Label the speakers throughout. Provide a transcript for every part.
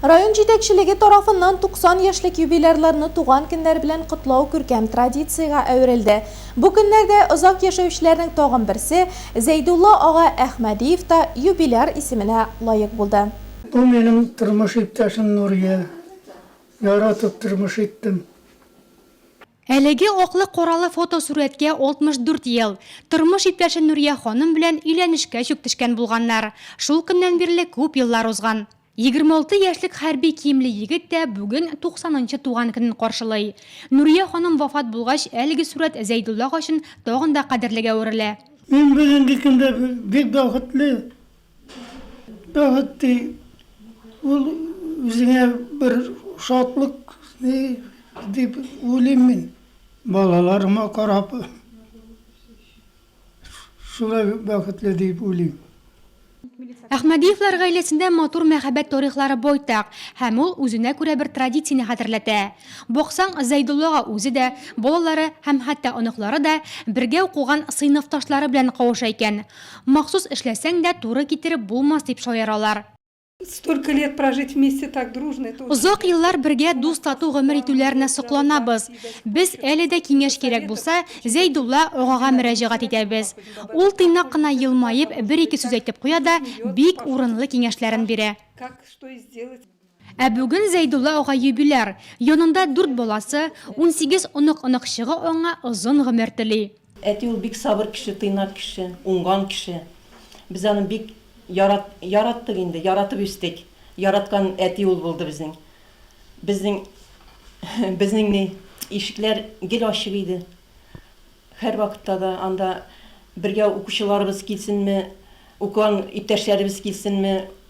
Speaker 1: Район җитәкчелеге тарафыннан 90 яшьлек юбилярларны туган көннәр белән котлау күркәм традициягә әверелде. Бу көннәрдә озак яшәүчеләрнең тагын берсе, Зәйдулла ага Әхмәдиев та юбиляр исеменә лаек булды. Бу минем
Speaker 2: тормыш иптәшем Нурия. Яратып тормыш иттем.
Speaker 3: Әлеге аклы коралы фотосурәткә 64 ел, тормыш иптәше Нурия ханым белән өйләнешкә чүп төшкән булганнар. Шул көннән бирле күп еллар узган. 26 яшьлек хәрби киемле егет тә бүген 90 нчы туган көнен каршылый. Нурия ханым вафат булгач, әлеге сурәт Зәйдулла ага өчен тагын да кадерлегә әверелә. Мин бүгенге
Speaker 2: көндә бик бәхетле, Бәхет ди, ул үзеңә бер шатлык ди, дип уйлыйм мин. Балаларыма карап, шулай бәхетле дип уйлыйм.
Speaker 3: Әхмәдиевлар гаиләсендә матур мәхәббәт тарихлары байтак, һәм ул үзенә күрә бер традицияне хәтерләтә. Баксаң, Зәйдуллага үзе дә, балалары һәм хәтта оныклары да бергә укыган сыйныфташлары белән кавыша икән. Махсус эшләсәң дә, туры китереп булмас, дип шаяралар. Столько
Speaker 4: лет прожить вместе так дружно, это очень. Озак еллар бергә
Speaker 3: дус-тату гомер итүләренә сокланабыз. Без, әле дә киңәш кирәк булса, Зәйдулла агага мөрәҗәгать итәбез. Ул тыйнак кына елмаеп, бер-ике сүз әйтеп куя да, бик урынлы киңәшләрен бирә. Как, что и сделать.
Speaker 4: Ә бүген
Speaker 3: Зәйдулла ага юбиляр, янында дүрт баласы, унсигез онык-оныкчыгы аңа озын гомер тели. Әти ул бик сабыр
Speaker 5: кеше, тыйнак кеше, уңган кеше. Без аны бик ярат, яраттык инде, яратып үстек. Яраткан әти ул булды безнең. Безнең, безнең ни, ишекләр гел ачык иде. Һәрвакытта да анда бергә укучыларыбыз килсенме, укыган иптәшләребез килсенме,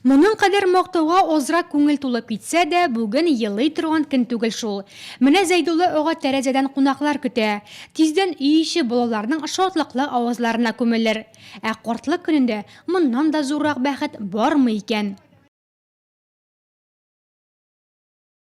Speaker 6: Моның кадәр
Speaker 3: мактауга азрак күңел тулып китсә дә, бүген елый торган көн түгел шул. Менә Зәйдулла ага тәрәзәдән кунаклар көтә. Тиздән өй эче балаларның шатлыклы авазларына күмелер. Ә картлык көнендә моннан да зуррак бәхет бармы икән?